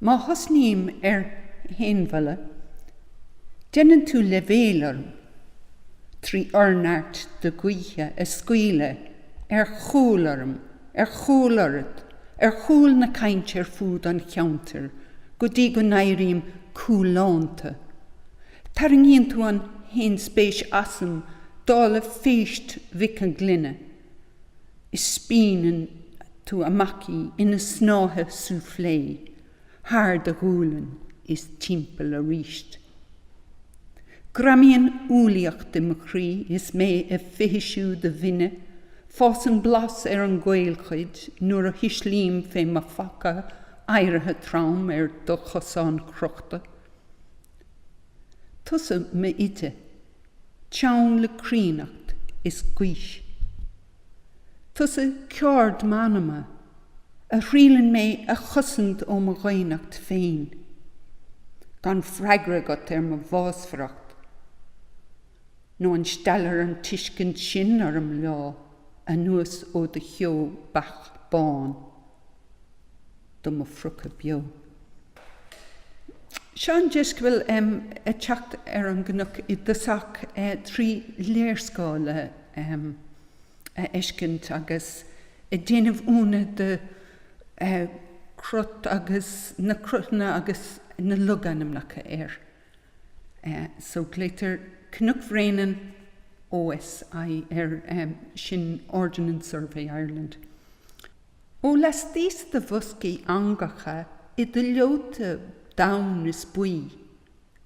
Má thosnaím ar fhéinmholadh, déanann tú leibhéal orm, trí fhorneart do ghaoithe a scaoileadh ar chúl orm, ar chúl oraibh, ar chúl na cainte ar fúd an cheantair, go dtí go n-éirím cúlánta. Tarraingíonn tú an fhéinspéis asam dála phéist Mhic an Ghlinne. is spíonann tú amach í ina snáithe soufflé thar do ghualainn is timpeall aríst. Greamaíonn umhlaíocht i mo chroí is mé ag fithisiú do bhinne, fásann blas ar an gcaolchuid nuair a thuislím fé mo phaca adhartha trom ar do chosán crochta. Tusa m'oide. teann le críonnacht is gaois. Tusa ceard m'anama, a thriaileann mé a chosaint ó mo dhaonnacht féin. Gan freagra agat ar mo bhásmhaireacht. Nó an steallfar an tuiscint sin orm lá anuas ó do cheo beacht bán? do mo phriocadh beo. Seo an deisceabal ag teacht ar an gcnoc i dtosach trí léarscáil a fheiscint agus ag déanamh ionadh de chrot agus na crothanna agus na logainmneacha air. So glaotar Cnoc Bhréanainn OSI air, sin Ordnance Survey Ireland. Ó laistíos de bhoscaí eangacha i do leota donn is buí,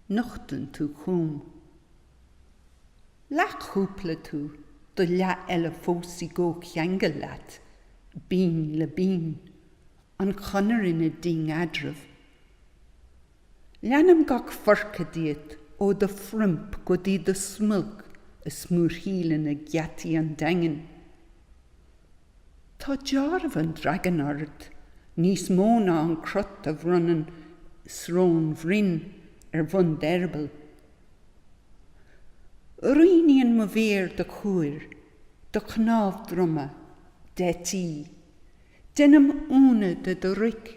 nochtann tú chúm. Leathchúpla tú, do leath eile fós i gcomhcheangal leat, binn le binn, an Chonair ina ding eadraibh. Leanaim gach forca díot ó do phroimp go dtí do smulc a smúrthaíleann ag geataí an Daingin. Tá deáramh an dragain ort, níos mó ná an crot a bhronnann Srón Bhroin ar bhun d'eireaball. Rianaíonn mo mhéar do chuair, do chnámh droma, d'eití. Deinim iúnadh de do roic.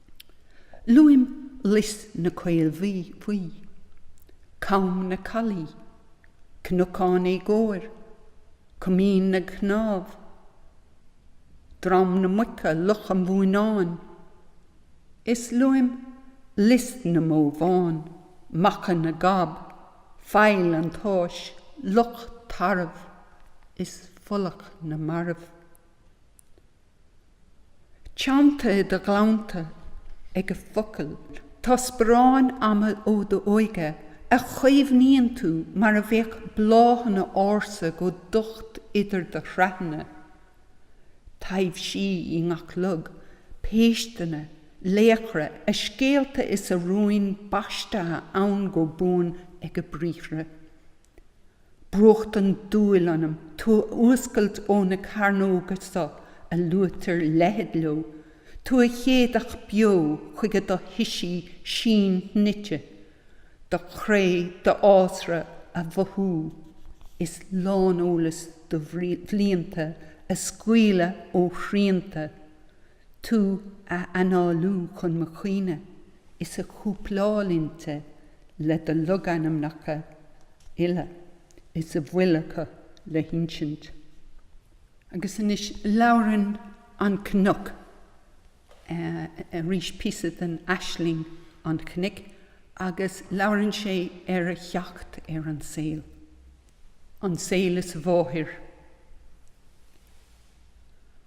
Luaim Lios na Caolbhuí, Com na Caillí, Cnocán Éagóir, Coimín na gCnámh, Drom na Muice, Loch an Mhónáin, is luaim Lios na mBó Bhán, Macha na gCab, Faill an tSáis, Loch Tarbh, is Folach na Marbh. Teannta i do ghleannta ag a focail, tá sparáin ama ó d'óige a chaomhnaíonn tú mar a bheadh bláthanna ársa go docht idir do shraitheanna. Taibhsí i ngach log, péisteanna, laochra, a scéalta is a rúin baistithe ann go buan ag a briathra. Brúchtann dúil ionam tú a fhuascailt ó na cearnóga so a luaitear leithead leo, tú a shéideadh beo chuig do thoisí síonshnoite, do chré, d'fhásra, a mhothú is lán-eolas do bhlianta a scaoileadh ó shrianta, tú a análú chun mo chuimhne is a chúpláil inti le do logainmneacha uile is a bhfuil acu le hinsint. Agus anois labhrann an cnoc arís, píosa den aisling an chnoic, agus labhrann sé ar a theacht ar an saol, an saol is a mháthair.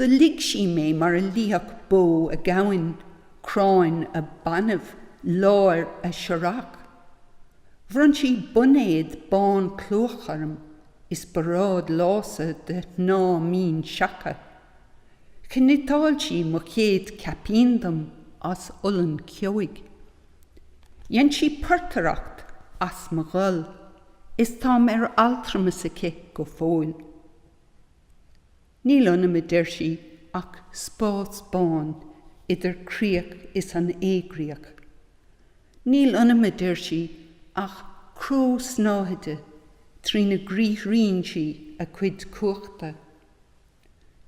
Do ligh sí mé mar a lífeadh bó a gamhain, cráin a banbh, láir a searrach. Bhronn sí boinéad bán clúmhach orm is bearád lása de shnáth mín seaca. Chniotáil sí mo chéad chaipín dom as olann ceoigh. Dhein sí portaireacht as mo ghol is táim ar altramas aici go fóill. Níl ionam, a deir sí, ach spás bán idir críoch is an éigríoch. Níl ionam, a deir sí, ach cró snáthaide trína gcriathraíonn sí a cuid cumhachta.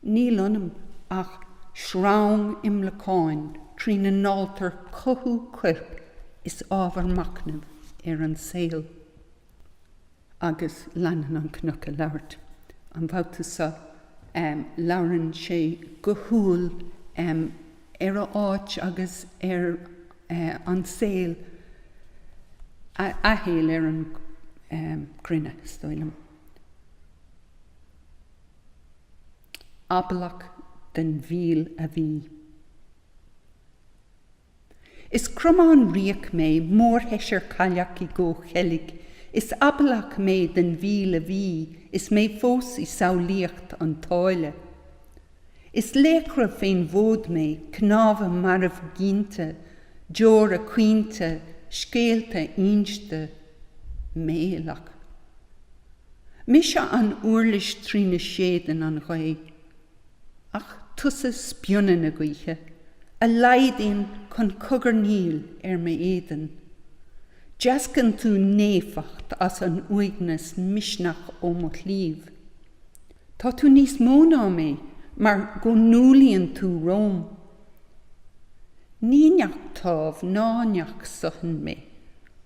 Níl ionam ach sreang imleacáin trína ndáiltear cothú coirp is ábhar machnaimh ar an saol. Agus leanann an cnoc ag labhairt. An babhta seo, labhrann sé go humhal ar a áit agus ar an saol, a shaol ar an gcruinne, is dóigh liom. Ablach den mhíol a bhí. Is cromán riabhach mé, mórsheisear cailleach i gcomhcheilg, is ablach mé den mhíol a bhí is mé fós i samhlaíocht an tsáile. Is laochra fén bhfód mé, cnámha marbhghinte, deora caointe, scéalta inste. Méalach. Mise an uirlis trína séideann an ghaoth. Ach tusa spionnadh na gaoithe a laghdaíonn chun cogarnaíl ar m'éadan. Deascann tú naofacht as an uaigneas misneach ó mo chliabh. Tá tú níos mó ná mé mar go n-umhlaíonn tú romham. Ní neach támh ná neach suthain mé.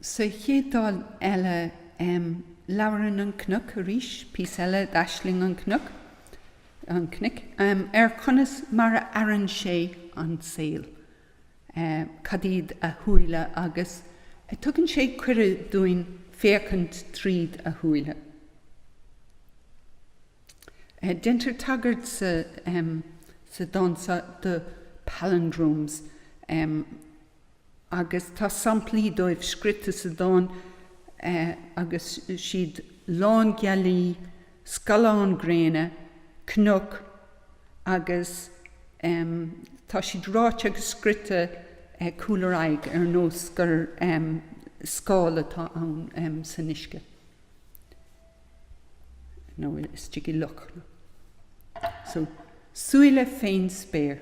Sa chéad dán eile, labhrann an cnoc arís, píosa eile d'Aisling an Chnoic, an Chnoic, ar chonas mar a fhaireann sé an saol, cad iad a shúile agus tugann sé cuireadh dúinn féachaint tríd a shúile. Deintear tagairt sa dán seo do palindromes agus tá samplaí dóibh scríte sa dán agus siad lán gealaí, scalán gréine, cnoc agus tá siad ráite agus scríte cúl ar aghaidh ar nós gur scáil atá ann san uisce. nó istigh i loch. So, súile fén spéir.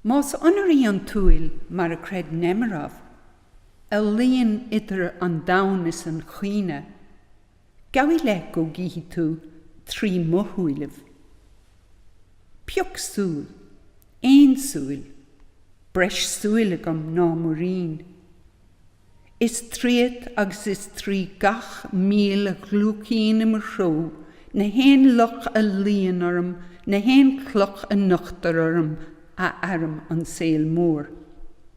Más ionar í an tsúil, mar a chreid Nemerov, a luíonn idir an domhan is an chuimhne, Gabh i leith go gcífidh tú trí mo shúilibh. Pioc súil. Aon súil. Breis súil agam ná muirín. Is tríot agus is trí gach míol a ghliúcaíonn im threo, na haon loch a luíonn orm, na haon chloch a nochtar orm, a fhairim an saol mór.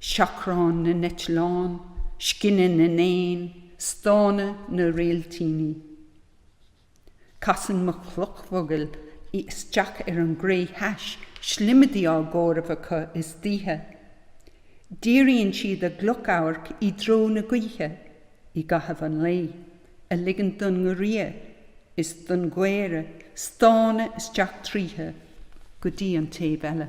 seachrán na n-eitleán, scinneadh na n-éan, stánadh na réiltíní. Casann mo chloch mhogaill isteach ar an gcré thais, slimadí á gcomhaireamh acu istoíche. Díríonn siad a gcloch amhairc i dtreo na gaoithe i gcaitheamh an lae, ag ligint don ngiorria is don gcaora stánadh isteach tríothu go dtí an taobh eile.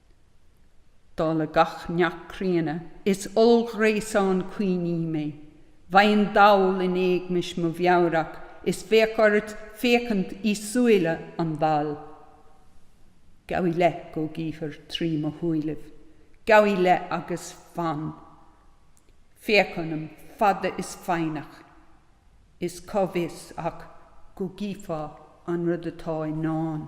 Dála gach neach críonna, is ollghréasán cuimhní mé. Bheinn dall in éagmais mo mheabhrach is bheadh ort féachaint i súile an bhaill. Gabh i leith go gcífir trí mo shúilibh. Gabh i leith agus fan. Féach ionam, fada is foighneach. Is cá bhfios ach go gcífeá an rud atá i ndán.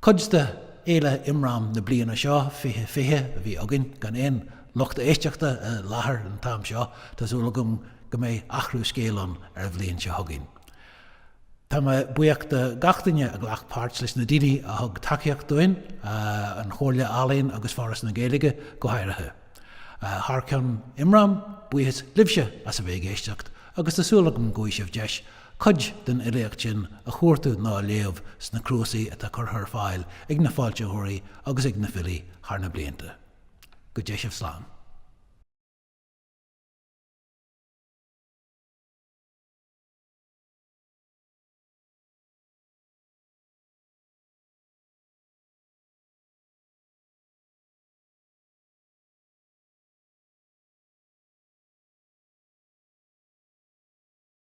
Cuid de Fhéile Imram na bliana seo, Fiche Fiche, a bhí againn, gan aon lucht éisteachta i láthair an t-am seo, tá súil agam go mbeidh athrú scéil ann ar an bhliain seo chugainn. Tá mé buíoch de gach duine a ghlac páirt, leis na daoine a thug tacaíocht dúinn, an Chomhairle Ealaíon agus Foras na Gaeilge go háirithe. Thar ceann Imram, buíochas libhse as a bheith ag éisteacht agus tá súil agam go bhfaighidh sibh deis Cuid den fhilíocht sin a chuartú ná a léamh sna cnuasaigh atá curtha ar fáil ag na foilsitheoirí agus ag na filí thar na blianta. Go dté sibh slán.